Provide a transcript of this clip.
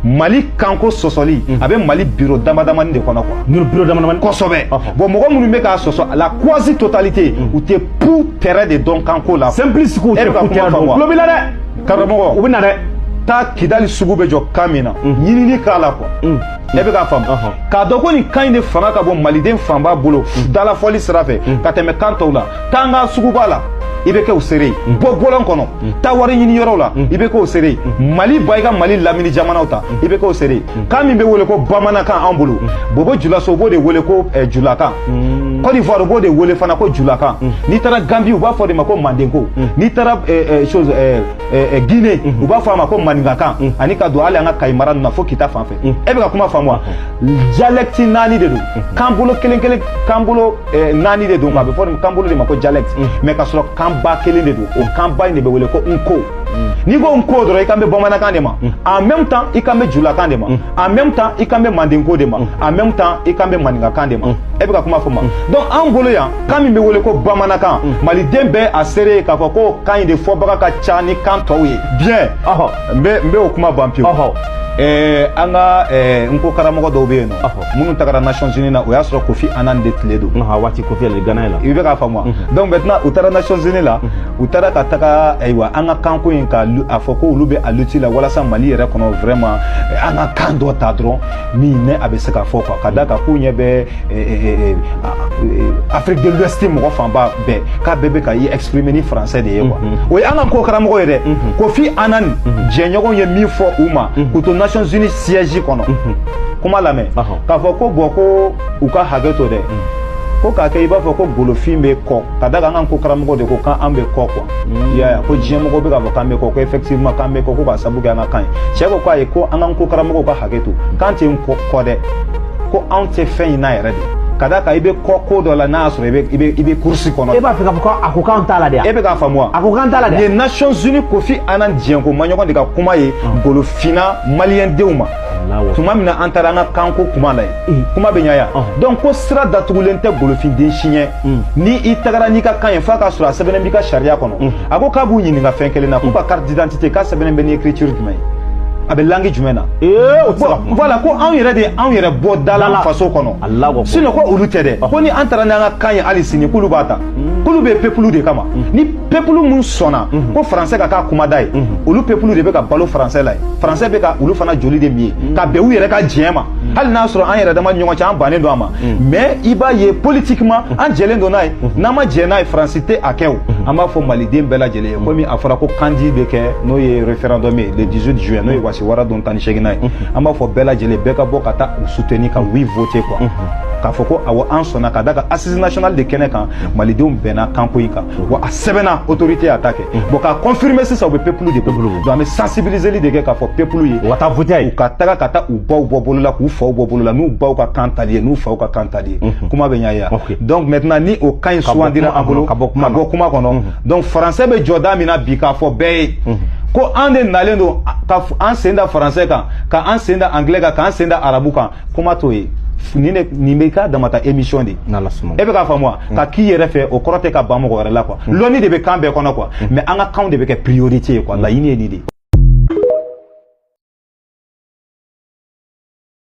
mali kanko sɔsɔli a bɛ mali biro damadamani de kɔnɔ quoi nuru biro damadamani kosɛbɛ bon mɔgɔ minnu bɛ k'a sɔsɔ la quasi totalité u tɛ putɛrɛ de dɔn kanko la simplice k'u tɛ putɛrɛ dɔn tulo b'i la dɛ karamɔgɔ u bɛ na dɛ taa kidali sugu bɛ jɔ kan min na ɲinini k'a la quoi e bɛ k'a faamu k'a dɔn ko nin kan in de fanga ka bon maliden fanba bolo dalafɔli sira fɛ ka tɛmɛ kan tɔw la taa an ka suguba la i bɛ kɛ o seere ye bɔ bɔlɔn kɔnɔ taa wari ɲini yɔrɔw la i bɛ kɛ o seere ye mali ba i ka mali lamini jamanaw ta i bɛ kɛ o seere ye kan min bɛ wele ko bamanankan an bolo bobo julaso u b'o de wele ko eh, julakan Côte d'Ivoire u b'o de wele fana ko julakan n'i taara Gambie u b'a fɔ de ma ko mandenko n'i taara eh, eh, chose eh, eh, eh, Guinée u b'a fɔ a ma ko maninkakan ani ka don hali an ka Kayi mara ninnu na fo kita fan fɛ e bɛ ka kuma faamu wa dialecte naani de don kan bolo kelen kelen kan bolo eh, naani de don a bɛ fɔ nin kan bolo de ma ko dialecte mais ka sɔrɔ kan ba kelen de don o kan ba in de bɛ wele ko nko n'i ko nko dɔrɔn i kan bɛ bamanankan de ma en même temps i kan bɛ julakan de ma en même temps i kan bɛ mandenko de ma en même temps i kan bɛ maninkakan de ma e bɛ ka kuma faamu wa donc an bolo yan kan min bɛ wele ko bamanankan maliden bɛɛ a seere ye k'a fɔ ko kan in de fɔbaga ka ca ni kan tɔw ye bien n bɛ n bɛ o kuma ban pewu ɛɛ an ka ɛɛ nko karamɔgɔ dɔw bɛ yen nɔ minnu tagara nations unies na o y'a sɔrɔ kofi annan de tile don a waati kofi ale gana la i bɛ k'a faamu wa donc maintenant u taara nations unies la u taara ka taga ayiwa an ka kanko in ka a fɔ ko olu bɛ a lutte la walasa mali yɛrɛ kɔnɔ vraiment an ka kan dɔ ta dɔrɔn min ne a bɛ se ka fɔ quoi ka d'a kan k'u ɲɛ bɛ afrique de l'ouest mɔgɔ fanba bɛɛ k'a bɛɛ bɛ ka i exprimer ni français de ye quoi o ye an ka nko karamɔgɔ ye dɛ kofi annan jɛɲɔgɔnw ye min fɔ u ma k'u to nations unies siège kɔnɔ kuma lamɛn k'a fɔ ko bon ko u ka hakɛ to dɛ ko k'a kɛ i b'a fɔ ko golofin bɛ kɔ ka da kan an ka nko karamɔgɔ de ko k'an bɛ kɔ quoi i y'a ye ko diɲɛmɔgɔ bɛ k'a fɔ k'an bɛ kɔ ko effectivement k'an bɛ kɔ ko k'a sabu kɛ an ka kan ye cɛ ko k'a ye ko an ka nko karamɔgɔw ka hakɛ to k'an tɛ kɔ dɛ ko anw tɛ fɛn in na yɛrɛ de ka da kan i bɛ kɔ ko dɔ la n'a y'a sɔrɔ i bɛ i bɛ i bɛ course kɔnɔ. e b'a fɛ k'a fɔ ko a ko k'an t'a la de wa. e bɛ k'a faamu wa. a ko k'an t'a la de. nin ye nations unies kofi annan diɲɛko maɲɔgɔn de ka kuma ye golofinna maliyɛn denw ma. tuma min na an taara an ka kanko kuma la yen kuma bɛ ɲa yan donc ko sira datugulen tɛ golofin den si ɲɛ. Mm. ni i tagara n'i ka kan ye f'a ka sɔrɔ a sɛbɛnnen b'i ka sariya kɔnɔ mm. a ko k'a b'u ɲininka fɛn kelen na k'u ka carte d'identité k'a sɛbɛnnen bɛ ni écriture jumɛn ye a bɛ langue jumɛn na voilà ko anw yɛrɛ de ye anw yɛrɛ bɔ da la faso kɔnɔ sinon ko olu tɛ dɛ ko ni an taara n'an ka kan ye hali sini k'olu b'a ta mm. k'olu bɛ peuple de kama ni peuple min sɔnna mm-hmm. ko français ka k'a kumada ye mm-hmm. olu peuple de bɛ ka balo français la ye français bɛ ka olu fana joli de min ye mm. ka bɛn u yɛrɛ ka diɲɛ ma mm. hali n'a sɔrɔ an yɛrɛ dama ɲɔgɔn cɛ an bannen don a ma Mm. mais i b'a ye politiquement mm. an jɛlen don n'a ye mm. n'an ma jɛ n'a ye faransi tɛ a kɛ o an b'a fɔ maliden bɛɛ lajɛlen ye komi a fɔra ko kandi bɛ kɛ n'o ye référendum ye le 18 juin n'o ye wasiwara don tan ni seeginnan ye an b'a fɔ bɛɛ lajɛlen bɛɛ ka bɔ ka taa u soutenir ka oui voter quoi k'a fɔ ko awɔ an sɔnna ka da ka assise nationale de kɛnɛ kan malidenw bɛnna kanko in kan wa a sɛbɛnna autorité y'a ta kɛ bon k'a confirmer sisan u bɛ pepulu de bolo donc an bɛ sensibiliseli de kɛ k'a fɔ pepulu ye u ka taa voter ye u ka taga ka taa u baw bɔ bolo la k'u faw bɔ bolo la n'u baw ka kan tali ye n'u faw ka kan tali ye kuma bɛ ɲaya donc maintenant ni o kan in sugandira an bolo ka bɔ kuma kɔnɔ donc français bɛ jɔda min na bi k'a fɔ bɛɛ ye ko an de nalen don ka an sen da français kan ka an sen da anglais kan k'an sen da arabu kan kuma t'o ye nin de nin bɛ ka damatɛmɛ sisan de e bɛ k'a faamu wa ka k'i yɛrɛ fɛ o kɔrɔ tɛ ka ban mɔgɔ wɛrɛ la quoi lɔnni de bɛ kan bɛɛ kɔnɔ quoi mais an ka kanw de bɛ kɛ priorité ye quoi laɲini ye nin de ye